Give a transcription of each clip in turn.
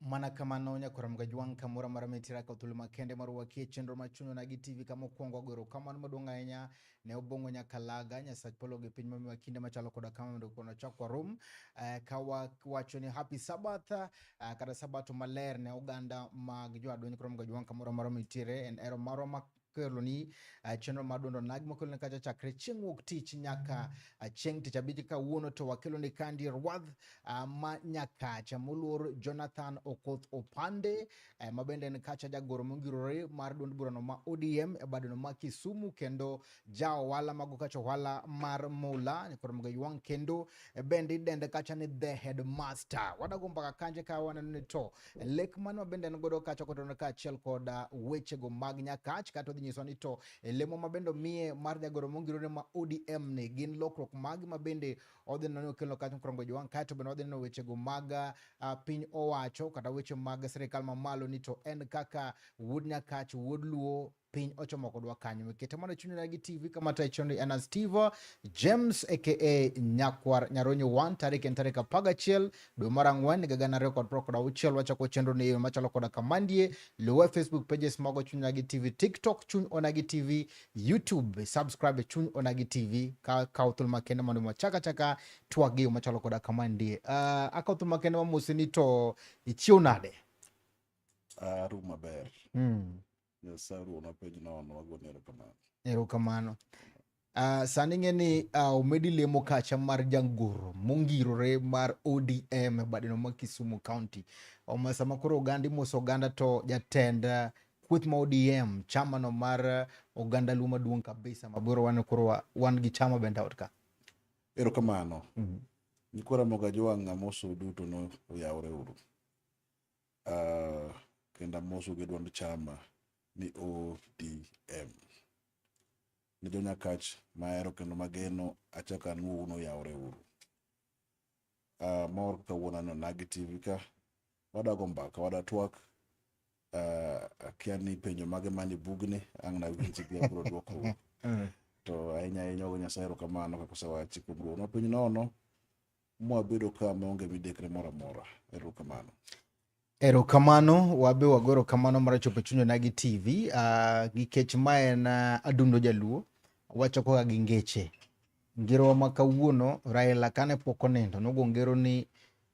Mana kamano nyaka waramga jwang' kamoro amora mitira ka thuolo makende mar wakie chenro ma chunywa nagi TV kama okwongo agoro kamano maduong' ahinya ne obong'o nyaka laga nyasach polo gi piny mamiwa kinde machalo koda kama mondo kono chak warum eh, ka wawacho ni happy sabbath eh, kata sabato maler ne oganda mag joadweny koro mga jwang' kamoro amora mitire en ero marwa keloni uh, chenro mar duond onagi makeloni kacha chakre chieng' wuok tich nyaka uh, chieng' tich abich kawuono to wakeloni kandi rwadh uh, ma nyakacha moluor jonathan okoth opande uh, ma bende en kacha jagoro mongirore mar duond burano ma odm e badeno ma kisumu kendo ja ohala mago kacha ohala mar mula koro mogo ywang' kendo e bende idende kacha ni the headmaster. Wadago mbaka kanje ka waneno ni to e lek mano bende en godo kacha kotono ka achiel koda wechego mag nyakach kata odhi nyiswa ni to e lemo ma bende omiye mar jagoro mongirore ma ODM ni gin lokruok mag ma bende odhi neno ni okelo kacha mokwongo jowang' kae to bende wadhi neno wechego mag uh, piny owacho kata weche mag sirikal mamalo ni to en kaka wuod nyakach wuod luo piny ochomo kodwa kanyo wekete mondo chunyna gi tv kama tachondi en astivo james aka nyakwar nyaronyo 1 tarik en tarik apar gachiel dwe mar ang'wen higa gana ariyo kod piero kod auchiel wachako chenro ni eyo machalo koda kamandie luwe facebook pages mago chunyna gi tv tiktok chuny ona gi tv youtube subscribe chuny ona gi tv ka kawo thuolo makende mondo mwachaka chaka twak gi yo machalo koda kamandie uh, ah, akawo thuolo makende mamose ni to ichiew nade uh, ah, rum maber mm. Nyasaye ruona penj nono, wagoni erokamano. Erokamano. Uh, sani ng'e ni uh, omedi lemo kacha mar jangoro mongirore mar ODM e badeno ma Kisumu County. Oma sama koro oganda imoso oganda to jatend uh, kweth ma ODM chama no mar uh, oganda luo maduong' kabisa maboro wan koro wan gi chama bende ot ka. Erokamano. Mm -hmm. Nikora moga jowang' amoso duto no oyawre uru. Uh, kendo amosu gi duond chama ni ODM. Ni jo Nyakach mahero kendo mageno achaka nuo uno yawre uru. Uh, mor kawuono aneno Nagi TV ka wadago mbaka wada twak uh, akia ni penjo mage mani bugni ang' nawinji gi abiro dwoko to ahinya ahinya ogo Nyasaye erokamano kaka osewachi kuom duono piny nono mwabedo ka maonge midekre moro amora. Erokamano. Erokamano, wabe wago erokamano mar chopo chuny onagi TV uh, nikech ma en uh, adundo jaluo wacho kaka gi ngeche ngerowa ma kawuono Raila kane pok onindo nogo ngero ni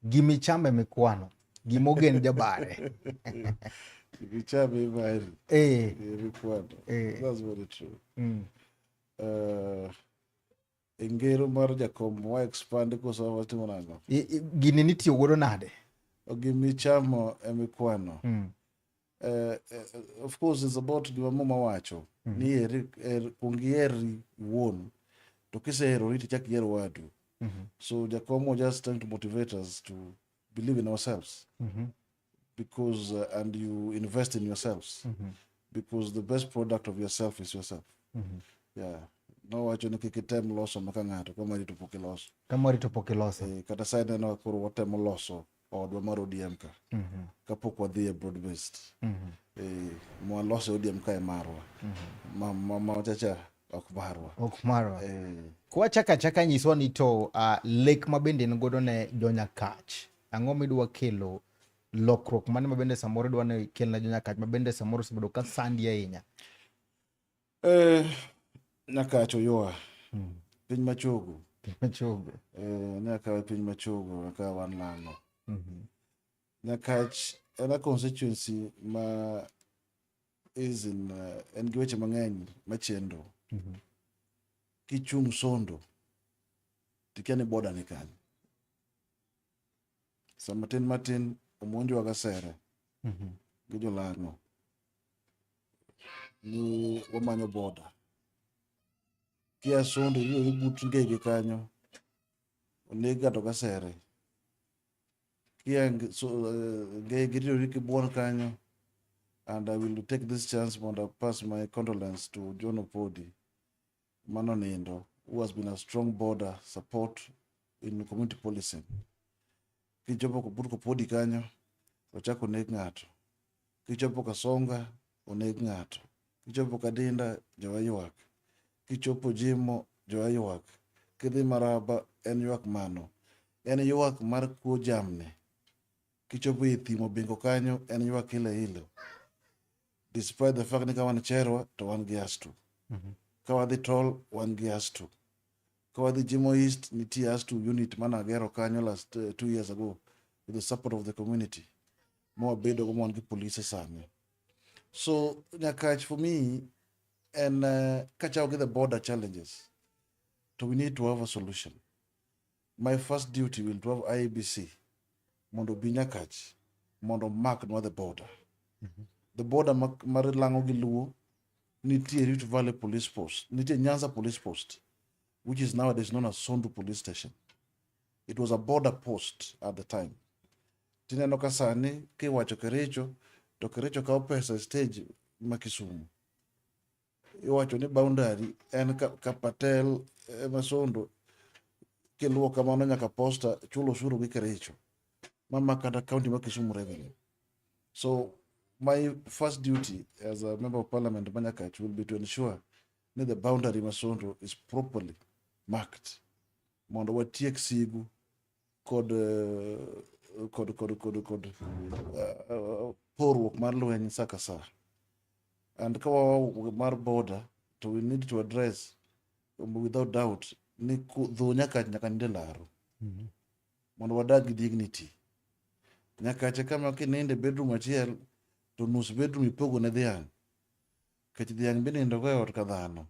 gimichame mikwano gimogen jabare gimichame imari eh. mikwano eh. that's very true mm. uh, e ngero mar jakom wa expand koso watimo nango I- i- gini nitiyo godo nade gimichamo emikwano Mm. Eh, eh, of course is about gima muma wacho Mhm. ni eri er, kuong iheri wuon to kiseherori tichak iher wadu Mhm. so jakom was just trying to motivate us to believe in ourselves Mhm. because uh, and you invest in yourselves mm -hmm. because the best product of yourself is yourself mm -hmm. yeah nowacho ni kik item loso maka ng'ato ka mari to pok iloso ka mari to pok iloso e, kata sa ineno koro watemo loso odwa mar odm ka mm -hmm. kapok wadhi e broad based mm -hmm. e, eh, mwalose odm ka e marwa mm -hmm. ma, ma, ma wachacha ok marwa ok marwa e. Eh. kwachaka chaka nyiswa ni to uh, lek ma bende en godo ne jonya kach Ang'o midwa kelo lokruok mane ma bende samoro idwa ni kelna jo Nyakach ma bende samoro osebedo ka sandi ahinya? Eh, Nyakach oyoa hmm. piny machogo piny machogo eh, ne akawe piny machogo akawa wan lano mm -hmm. Nyakach en a constituency ma is in uh, en gi weche mang'eny machendo mm -hmm. kichung' sondo tikia ni boda ni kanyo sa matin matin omonjwa gasera mm-hmm. gi jolano ni wamanyo boda kia sonde iyudo ni but ngege kanyo oneg ng'ato gasere kia ngege iyudo ni kibuon kanyo and i will take this chance mondo pass my condolence to john opodi mano nindo who has been a strong border support in community policing kichopo but kopodi kanyo ochako oneg ng'ato kichopo kasonga oneg ng'ato kichopo kadinda jowa ywak kichopo jimo jowa ywak kidhi maraba en ywak mano en ywak mar kuo jamni Kichopo e thim Obingo kanyo en ywak ilo ilo. Despite the fact ni ka wan Cherwa to wan gi Astu. Mhm. Ka wadhi Tol wan gi Astu. Ka wadhi Jimo East nitie Astu unit mane agero kanyo last eh, two years ago with the support of the community. Ma wabedo go ma wan gi polise sani. So Nyakach for me en eh, kachako gi the border challenges to we need to have a solution. My first duty will to have IEBC mondo obi Nyakach mondo omak nwa the border. The border ma- mar Lang'o gi Luo nitie Rift Valley Police Post, nitie Nyanza Police Post, which is nowadays known as Sondu Police Station. It was a border post at the time. Tineno ka sani kiwacho Kericho to Kericho kawo pesa e stage ma Kisumu. iwacho ni boundary en ka, ka Patel eh, Masondo kiluwo kamano nyaka posta chulo osuru gi Kericho mama kata county ma Kisumu revenue so my first duty as a member of parliament Manyakach will be to ensure that the boundary Masondo is properly marked mondo watiek sigu kod kod kod kod kod uh, porruok mar lweny saa ka saa and ka wawa mar border to we need to address um, without doubt ni ku- dho nyaka nyaka ninde laro Mhm. mondo wadag gi dignity nyakache kama kininde bedroom achiel to nus bedroom ipogo ne dhiang' kech dhiang' binindo go e ot ka dhano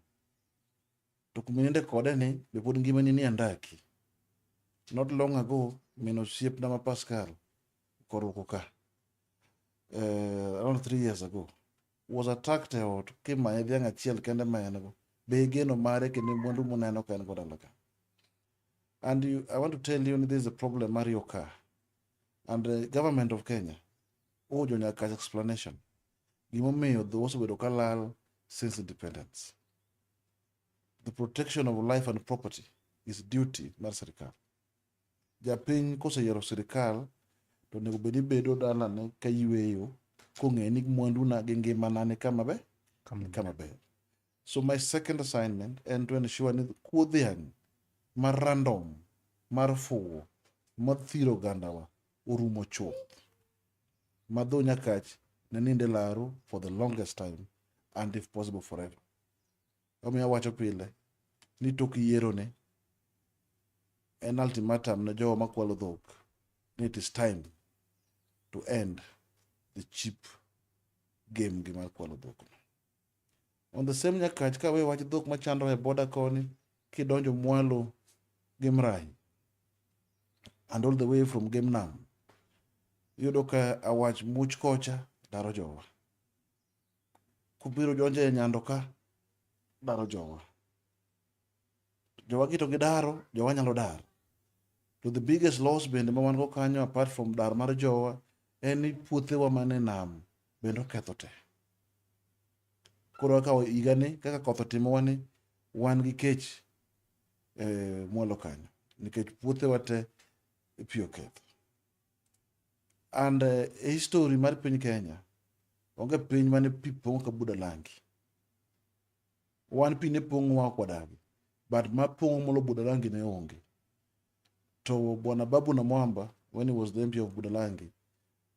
to kuma ininde kode ni be pod ngimani ni andaki not long ago min osiepna ma pascal koruko ka uh, around three years ago was attacked e ot kimanye dhiang' achiel kende ma en go be igeno mare kendo mwandu muneno ka en go dalaga and you, i want to tell you this is a problem mar your car and the government of kenya ojo nyaka explanation gimomiyo dho osebedo ka lal since independence the protection of life and property is duty mar sirikal. Japiny koseyiero sirikal to onego bed ni bedo dalane ka yweyo kong'eyo ni mwanduna gi ngimana ni kama be ni kama ber. So my second assignment en to ensure ni kuo dhiang' mar random mar fuwo mathiro ogandawa orumo chuth ma dho nyakach ne nind e laru for the longest time and if possible forever. Omiyo awacho pile ni tok yieroni en ultimatum ne jowa makwalo dhok ni it is time to end the cheap game gi mar kwalo dhok. On the same Nyakach ka we wach dhok machandore e border koni kidonjo mwalo gi Mrai and all the way from Game Nam iyudo ka awach much kocha daro jowa. kubiro donjo e nyando ka daro jowa jowa kito gidaro jowa nyalo dar to the biggest loss bende ma wan go kanyo apart from dar mar jowa en ni puothewa man e nam bende oketho te koro kaka higani kaka koth otimowa ni wan gi kech e mwalo kanyo nikech puothewa te pi oketho And uh, history mar piny Kenya onge piny mane pi pong' ka buda langi. Wan pi ne pong' wa kwadagi, but ma pong' molo buda langi ne onge. To bwana Babu na Mwamba, when he was the MP of Budalangi,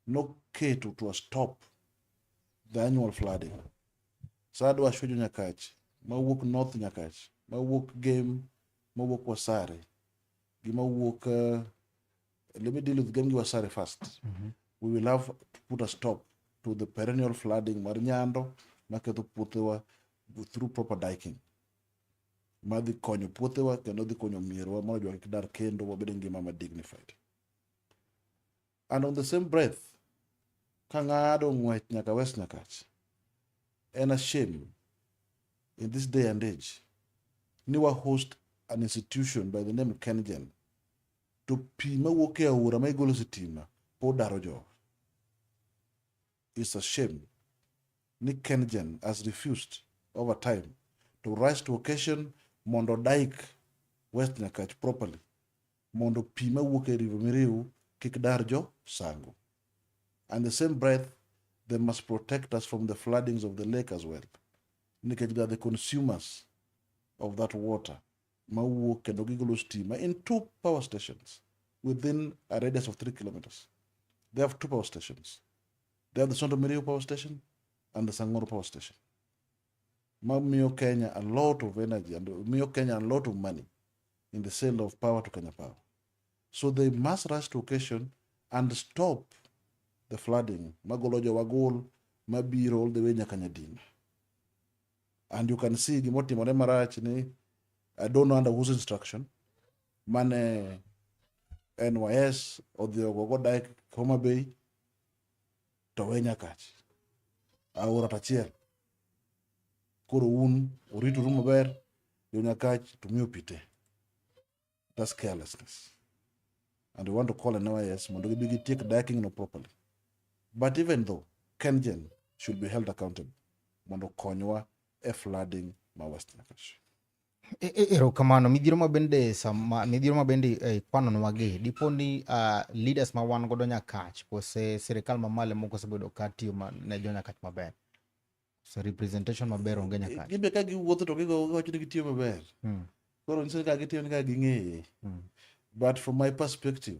no keto to stop the annual flooding. Sadu ashwejo nyakach, ma wuok north nyakach, ma wuok game, ma wuok wasare, gi ma wuok uh, Let me deal with Gengi Wasare first. Mm -hmm. We will have to put a stop to the perennial flooding mar nyando maketho puothewa through proper diking madhi konyo puothewa kendo dhi konyo mierwa mondo jwa kik dar kendo wabed e ngima ma dignified and on the same breath ka ng'ado ng'wech nyaka west nyakach en a shame in this day and age ni wa host an institution by the name kengen to pi mawuok e aora ma igolo sitima pod daro jowa. It's a shame ni KenGen has refused over time to rise to occasion mondo dike West Nyakach properly mondo pi mawuok e river miriu kik dar jo sango. And the same breath they must protect us from the floodings of the lake as well nikech they are the consumers of that water mawuok kendo gigolo stima in two power stations within a radius of three kilometers. They have two power stations. They have the Sonto Miriu power station and the Sangoro power station. Mamiyo Kenya a lot of energy and miyo Kenya a lot of money in the sale of power to Kenya Power. So they must rush to occasion and stop the flooding magolo jowagol mabiro all the way nyaka Nyadima. and you can see gima otimore marach ni I don't know under whose instruction mane NYS odhi ogogo dak Homa Bay to we Nyakach aora tachiel koro un oritoru maber jo Nyakach to mi opite That's carelessness. And we want to call NYS mondo gibi gitiek diking no properly. But even though Kengen should be held accountable mondo konywa e flooding ma West Nakash. E, e, erokamano midhiro ma bende sama midhiro ma bende eh, kwanonwa gi dipo ni uh, leaders ma wan godo nyakach kose sirikal mamalo moko osebedo ka tiyo ne jo nyakach maber So representation maber onge nyaka. Gin be ka giwuotho to gigo giwacho ni gitiyo maber. Hmm. Koro nyiso ni ka gitiyo ni ka ging'eye. Hmm. But from my perspective,